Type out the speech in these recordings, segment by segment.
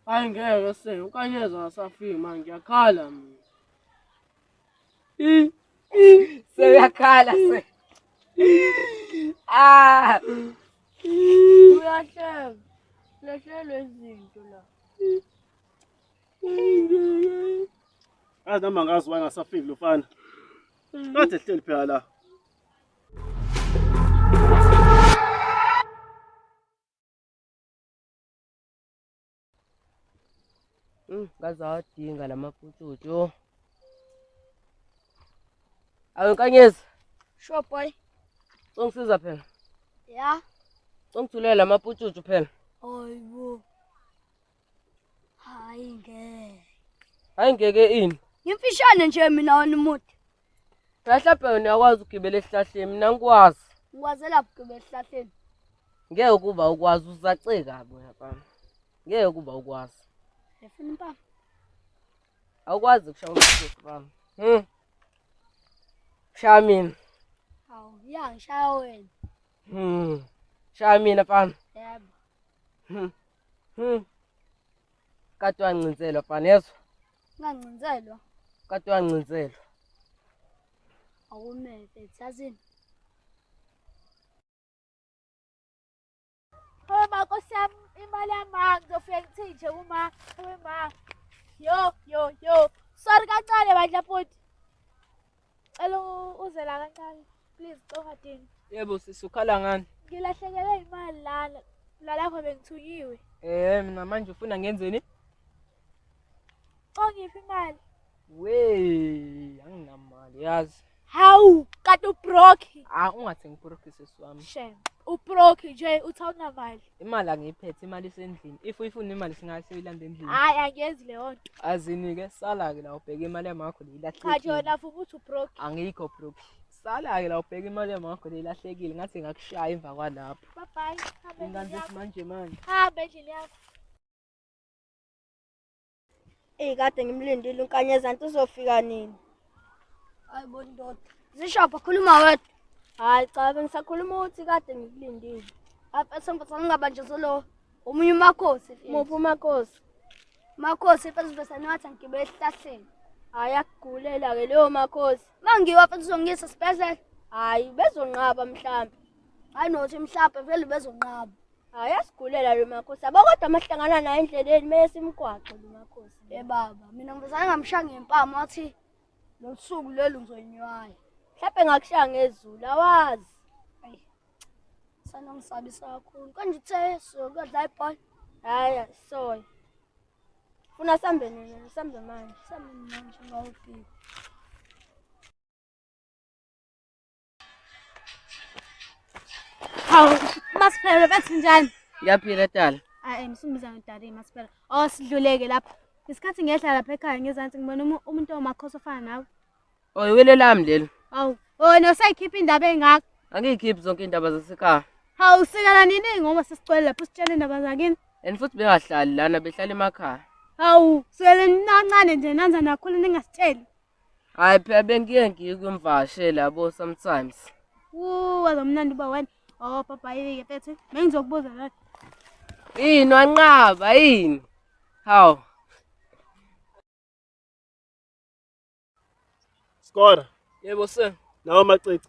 Hayi ngeke se unkanyeza akasafiki manje ngiyakhala mina. I- i- Seyakhala se. Ah, Uyahleka. Uyahlelwa izinto la. Azi nami angazi why ngasafiki lofana. Kade ehleli phela la. ngaze awadinga la maputshutshu yho awu nkanyezi sure boy congisiza phela ya congithulela la maputshutshu phela hayibo Hayi ngeke. Hayi ngeke ini? Ngimfishane nje mina wena umuthi. Ngahlaphe wena uyakwazi ukugibela esihlahleni mina ngikwazi. Ngikwazela ukugibela esihlahleni. Ngeke kuba ukwazi uzaceka bo yabami. Ngeke kuba ukwazi. Efuna impama. Awukwazi ukushaya umthetho bami. Hmm. Shaya mina. Awu, ya ngishaya wena. Hmm. Shaya mina fana. Yebo. Hmm. Hmm. Kade wancinzelwa fana yezwa? Ngancinzelwa. Kade wancinzelwa. Awumele, sazini. Owe bako siyam imali yamanzi ofike ngithinje kuma owe ma. Yo yo yo. Sorry kancane bandla futhi. Cela uze la kancane. Please Cogadini. Yebo sisi ukhala ngani? Ngilahlekelwe imali lana. Lalapho bengithukiwe. Eh mina manje ufuna ngenzeni? Ongiphi imali? Wey, anginamali yazi. Hawu, kade ubroke. Ah ungathi ngibroke sisi wami. Shem. Ubroke nje uthi awunamali. imali angiyiphethe imali isendlini if uyifuna imali singayi siyilanda endlini hayi angiyenzi leyo nto azinike sala-ke la ubheka imali yamakho cha leyilahlekile jona futhi uthi ubroke angikho broke sala-ke la ubheka imali yamakho leyilahlekile ngathi ngakushaya emva kwalapho babhayi hambe endlini inganzi yakho manje manje hambe endlini yakho Eyi kade ngimlindile uNkanyezanti uzofika nini? Hayi bo ndoda. Zishopha khuluma wedwa. Hayi cha bengisakhuluma ukuthi kade ngikulindile. Apha esemva sangingabanjezelo omunye umakhosi. Muphi umakhosi? Makhosi efesivesani wathi angigibe esihlahleni. Hayi akugulela ke leyo makhosi. Mangiwa futhi uzongiyisa esibhedlela. Hayi bezonqaba mhlambi. Hayi nothi mhlambi vele bezonqaba. Hayi asigulela lo makhosi. Yabo kodwa mahlangana naye endleleni mele simgwaxe lo makhosi. Eh baba, mina ngizana ngamshaya ngempama wathi losuku leli ngizonywaya. Mhlawumbe ngakushaya ngezulu awazi. Sana ngisabisa kakhulu. Konje uthe sokudla ibhola. Hayi soy. Funa sambe nini? Sambe manje. Sambe manje ngawufika. Hawu, masiphere bathi njani? Ngiyaphila dala. Hayi, ngisumiza ngidala imasiphere. Oh, sidluleke lapha. Isikhathi ngehla lapha ekhaya ngezansi ngibona umu- umuntu omakhosi ofana nawe. Oh, iwele lami lelo. Hawu, wena usayikhipha indaba engaka. Angiyikhiphi zonke indaba zasekhaya. Hawu, sikala nini ngoba sesicwele lapho sitshele indaba zakini. And futhi bengahlali lana behlala emakhaya. Hawu, sele ninancane nje nanza nakhula ningasitsheli. Hayi phela bengiye ngikwimvashe labo sometimes. Wuu wazomnandi uba wena. Oh papa yike phethe. Bengizokubuza la. Yini wanqaba yini? Hawu. Skora, Yebo sir. nawo amacici.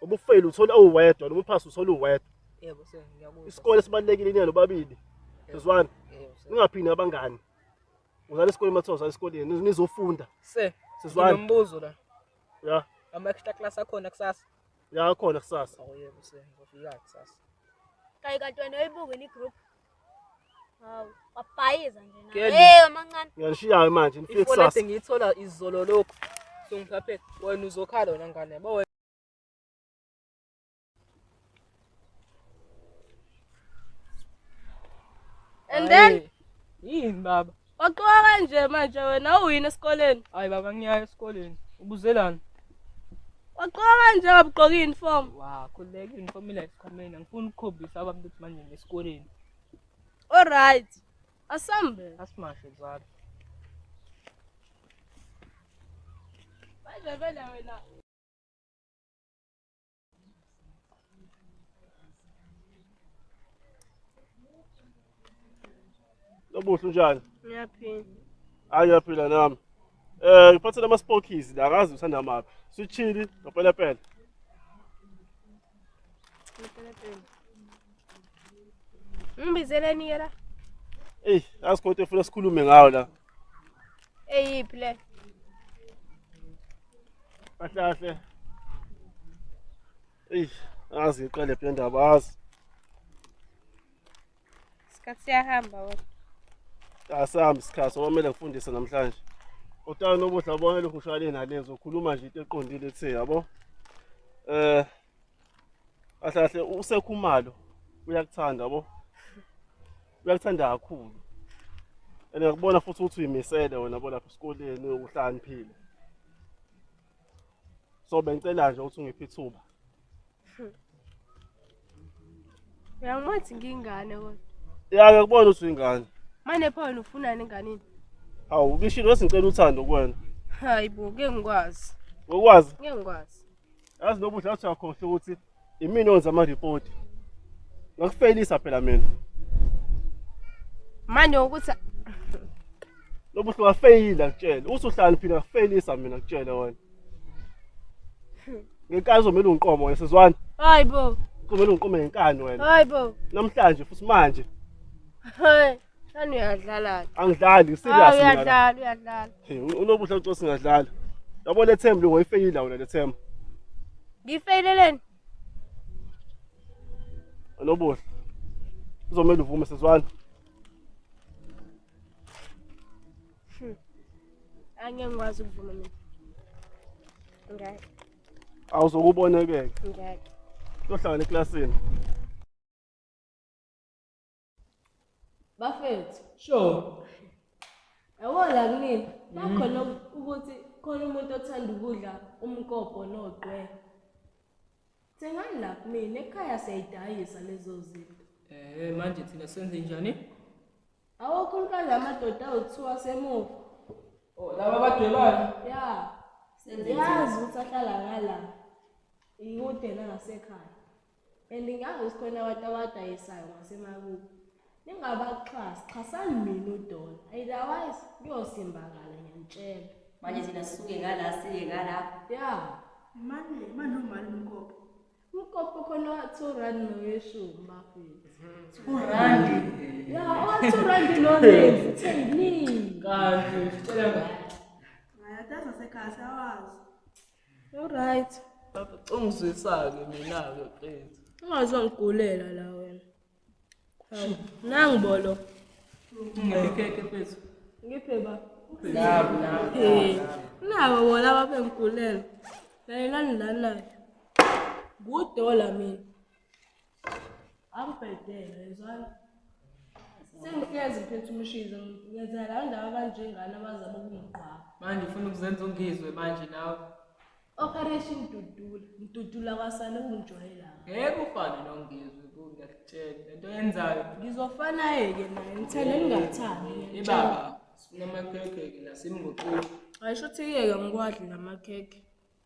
ubufeyili uthola uwedwa noma uphasa uthola uwedwa yebo sir ngiyakuzwa isikole sibalulekile inelo babili sizwana yebo sir ningaphini abangani uzala esikoleni mathiwa uzala esikoleni niz- nizofunda sir Sizwana. nginombuzo la ya ama extra class akhona kusasa ya khona kusasa oh yebo sir ngizofika kusasa Kayi kantwana oyibuke ni group. Hawu, wabhayiza nje nawe. Kelly. Hey, amancane. Ngiyanishiya-ke manje nifike ifonete kusasa ngiyithola izolo lokhu songiphaphele wena uzokhala wena ngane yabo wena And then Hhayi, yini baba Waqoka kanje manje wena uyini esikoleni? Hayi baba ngiyayo esikoleni. Ubuzelani? Waqoka kanje ngabuqoka uniform. Wa, khuleka uniform ila esikhwameni. Angifuni ukukhombisa abantu ukuthi manje ngesikoleni. All right. Asambe. Asimashe zalo. Manje vele wena Lobuhle unjani? Ngiyaphila. Hayi ngiyaphila nami. Eh ngiphathele ama spokis la akazi uthanda maphi. Sithini? Ngopela pela. Ngipela pela. Ngibizeleni ke la? Ey, asikhothi efuna sikhulume ngawo la. Eyiphi le? Kahle kahle. Ey, azi iqale phi indaba azi. Isikhathi siyahamba wena. Asambi isikhathi okwamele ngifundise namhlanje. Utana nobuhle abone lokhu ushayele nalezi ukhuluma nje into eqondile ethe yabo. Eh, kahle kahle usekhumalo uyakuthanda yabo uyakuthanda kakhulu and ngakubona futhi ukuthi uyimisele wena bo lapha esikoleni uhlaniphile so bengicela nje ukuthi ungiphe ithuba uyangimathi ngingane kodwa ya ngiyakubona ukuthi uyingane mane pho wena ufunani enganini hawu ubishilo wesingicela uthando kuwena hayi bo ngeke ngikwazi ngokwazi ngeke ngikwazi yazi lo buhle athi uyakhohlwa ukuthi imini onza amaripoti ngakufeyilisa phela mina manje ukuthi lo buhle wafeyila kutshela usuhlani phila ngakufeyilisa mina kutshela wena ngenkani uzomele ungiqomo wena sizwana hayi bo kumele ungiqome ngenkani wena hayi bo namhlanje futhi manje hayi Sani uyadlala. Angidlali, serious. Ah, uyadlala, uyadlala. Hey, unobuhle uthi singadlala. Yabo le thembu ngoyifeyile wena le thembu. Ngifeyileleni? Unobuhle. Uzomela uvume sezwana. Hmm. Angeke ngikwazi ukuvuma mina. Ngeke. Awuzokubona ke. Ngeke. Uyohlangana eklasini. bafethu sure yabo la kunini bakhona ukuthi khona umuntu othanda ukudla umkobho nogqwe thengani la kumina ekhaya siyayidayisa lezo zinto eh manje thina senze njani awokho umkazi amadoda awuthiwa semuva oh laba badwebana ya senze yazi ukuthi ahlala ngala ikude nangasekhaya and ngangisikona abantu abadayisayo ngasemakubo ningabaxhasi xhasani mina udola otherwise kuyosimbakala ngiyantshela manje thina sisuke ngala siye ngala ya manje manje umali umkopo umkopo khona wa-two rand noyeshumi bafethu two rand ya owa-two rand nonevu theyini kanti sicela ngayataza sekhasi awazi Alright. Ungizwisa-ke mina-ke qethi. Ungazongigulela la wena. Hawu, nangu bolo. Ngiphekheke mfethu. Ngiphe ba. Nabo nabo. Eh, nabo bona babengigulela. Layelani la nayo. Kudola mina. Angibhedele yezwana. Sengihlezi ngiphethe umshizo ngenzela la ndawo abanjengani abazama ukungigqwaba. Manje ufuna ukuzenza ungizwe manje nawe. Operation Dudula, ngidudula kwasale ungijwayela. Ngeke ufane nongizwe ku ngiyakutshela lento yenzayo. Ngizofana yeke naye ngithele ngingathandi. Ibaba sifuna amakhekhe ke nasimngoqoqo. Ayisho ukuthi yeke ngikwadli namakhekhe.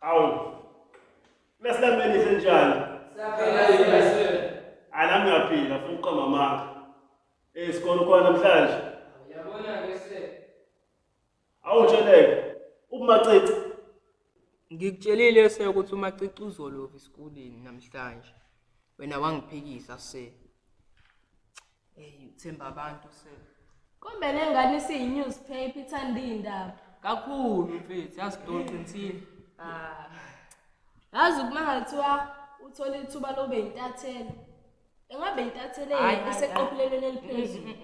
Awu. Lesilameni senjani? Saphela yini? Anami ngiyaphila futhi uqamba amanga. Eh sikolo khona namhlanje. Yabona ke se. Awutsheleke. Ubumacici. Ngikutshelile se ukuthi umacici uzolova esikoleni namhlanje. Wena wangiphikisa se. Hey, uthemba abantu se. Kumbe le ngane isiyi-newspaper ithanda iy'ndaba Kakhulu mfethu, yazi don't qinisile. Ah. yazi uma ngathiwa uthole ithuba lobe yintatheli engabe yintatheli Hhayi, hhayi, eseqophelelweni eliphezulu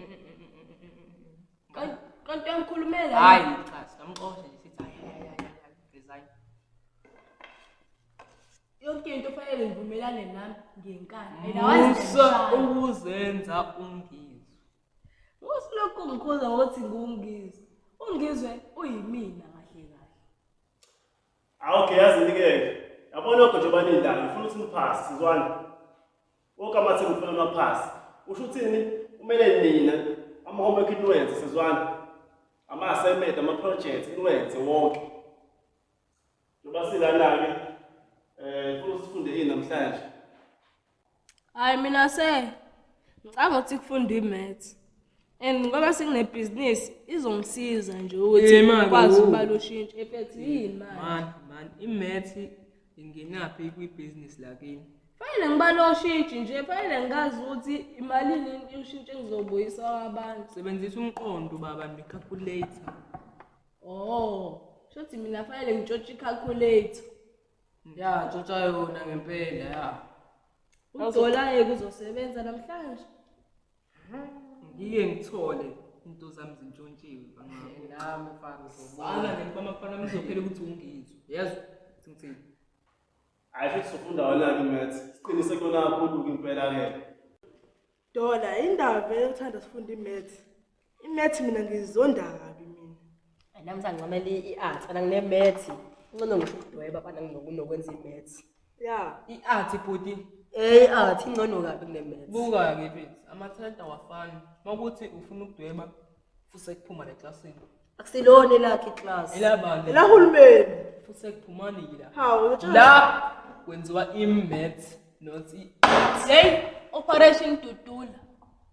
Kanti uyangikhulumela. Hayi cha sikamxosha nje sithi hayi hayi hayi resign. Yonke into kufanele ngivumelane nami ngenkani. Mina Musa wazi. ukuzenza ungizwe. Usilokhu ngikhuza ukuthi ngungizwe. Ungizwe uyimina kahle kahle. Awukhe yazi nike. Yabona lokho nje banindayo. Ngifuna ukuthi niphase sizwana. Wonke amathimba ufuna amaphasi. Usho uthini? Kumele nina ama-homework niwenze sizwana. Ama-assignment, ama-project niwenze wonke. Njengoba silana-ke um funa sifunde yini namhlanje? Hhayi mina se ngicanga ukuthi kufunda i-maths and ngoba senginebhizinisi izongisiza nje ukuthi Eh, manje, ngikwazi wo. ukubala ushintsho efethi yini manje Mani, mani, imethi Ingenaphi kwibhizinisi lakini? Fanele ngibale oshintshi nje, fanele ngazi ukuthi imalini ushintshi engizobuyisa kwabantu. Sebenzisa umqondo baba ne-calculator. Oh, shothi mina fanele ngitshotshe i-calculator. Ya, tshotsha yona ngempela ya. Udola yeke uzosebenza namhlanje. ngiye ngithole into zami zintshontshiwe nami mfana uzobona nami bamafana ngizophela ukuthi ungizwe yazi ngithini hayi futhi sifunda wena ke mathi siqinise kona kakhulu impela ke dola indaba vele uthanda sifunda imath imath mina ngizonda kabi mina nami sangincamela i-art ana nginemath incono ngisho ukudweba bana nginokwenza imath ya i-art bhuti eyi art ingcono kabi kunemeth buka-ke mfethu amathalenta awafani uma kuthi ufuna ukudweba fuse kuphuma neklasini akusilona elakhe iclass elabani elahulumeni fuse kuphumani yila hawu uyotshela- la kwenziwa i-maths not i-art yeyi operation dudula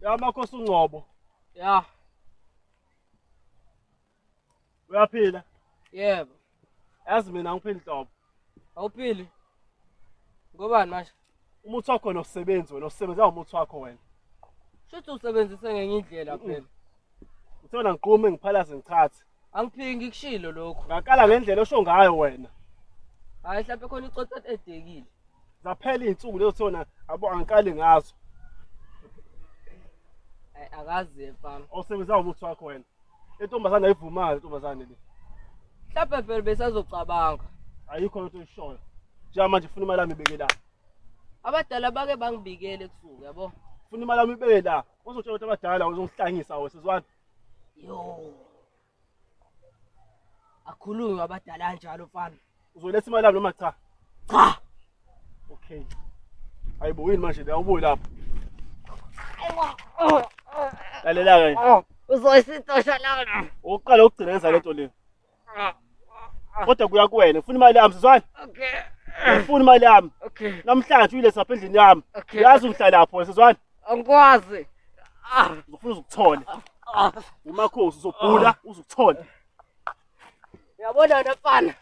Ya makhosi uNgcobo. Ya. Uyaphila? Yebo. Yazi mina ngiphila inhlobo. Awuphili? Ngobani manje? umuthi wakho wena usebenzi wena usebenza ngomuthi wakho wena shuthi usebenzise ngenye indlela phela uthona ngiqume ngiphalaze ngichathe angiphiki ngikushilo lokhu ngaqala ngendlela osho ngayo wena hayi mhlawumbe khona icotsa edekile zaphela iy'nsuku lezo thona abo angiqali ngazo akazi mfana osebenza ngomuthi wakho wena Intombazane ayivumayo intombazane le. Mhlawumbe vele besazocabanga. Ayikho into oyishoyo. Njenga manje funa imali yami ibeke la. Abadala bake bangibikele kusuku yabo. Funa imali yami ibeke la. Uzotshela ukuthi abadala uzongihlangisa wena sizwana. Yo. Akhulunywa abadala kanjalo mfana. Uzoletha imali yami noma cha? Cha. Okay. Hayibo yini manje la ubuye lapho. Lalela ke. Oh, uzoyisitosha lana. Uqala ukugcina yenza lento le. Ah, ah. Kodwa kuya kuwena, ufuna imali yami sizwana? Okay. Ufuna imali yami. Okay. Namhlanje uyiletha lapha endlini yami. Okay. Uyazi ngihlala lapho sizwana? Angikwazi. Ah, ufuna ukuthola. Ah. Umakhosi uzobhula uzukuthola. Uyabona wena mfana,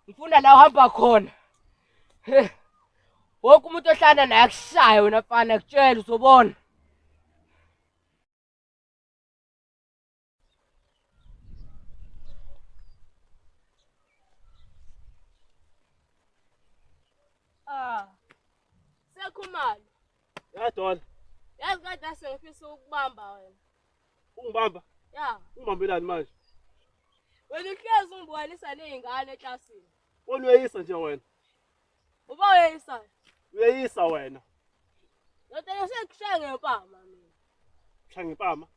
ngifuna la uhamba khona. He. Wonke umuntu ohlala naye akushaya wena mfana, kutshela uzobona. Ah. Sekhumalo. Ya Don. Yazi kade asengifisa ukubamba wena. Ungibamba? Ya. Ungibambelani manje? Wena uhlezi ungibukanisa nezingane eklasini. Wena uyeyisa nje wena. Uba uyeyisa. Uyeyisa wena. Ndoda yesekushaya ngempama mina. Shaya ngempama?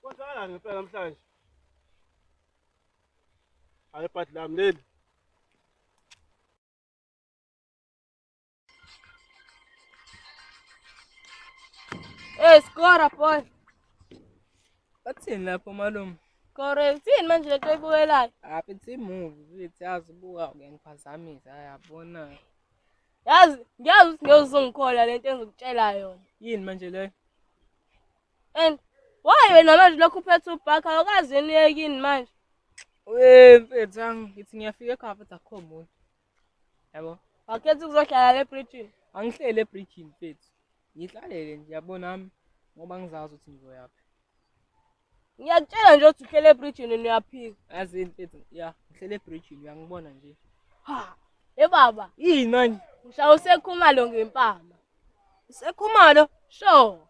Kwenzakalani ngempela namhlanje? Hayi ibhadi lami leli. Eh, skora boy. Bathini lapho malume? Skora, uthini manje lento oyibukelayo? Apha it's movie, uyithi yazi buka uyangiphazamisa yabona. Yazi, ngiyazi ukuthi ngeke uzongikhola lento engizokutshela yona. Yini manje leyo? and why wena manje lokhu uphethe ubhakha awukazi yini uyekini manje Eh mfethu angi ngithi ngiyafika ekhaya futhi akukho muntu. Yabo. wakhetha ukuzohlala le bridgini Angihlele ebridge mfethu. Ngihlalele nje yabo nami ngoba ngizazi ukuthi ngizoyaphi. ngiyakutshela nje ukuthi uhlele ebridgini niyaphika Yazi mfethu ya ngihlele ebridge uyangibona nje. ha e baba Yini manje? ngishaye usekhumalo ngempama Sekhumalo. sure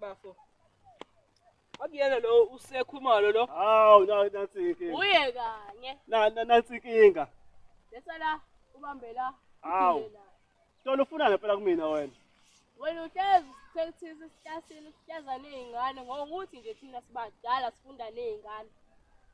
Bafo. Akuyena lo usekhumalo lo. Hawu na nansi inkinga. Uye kanye. Na na- nansi inkinga. Lesa la ubambela. Hawu. Tolo ufuna ngempela kumina wena. Wena uhlezi sekuthisa isitasini sihleza nezingane ngokuthi nje thina sibadala sifunda nezingane.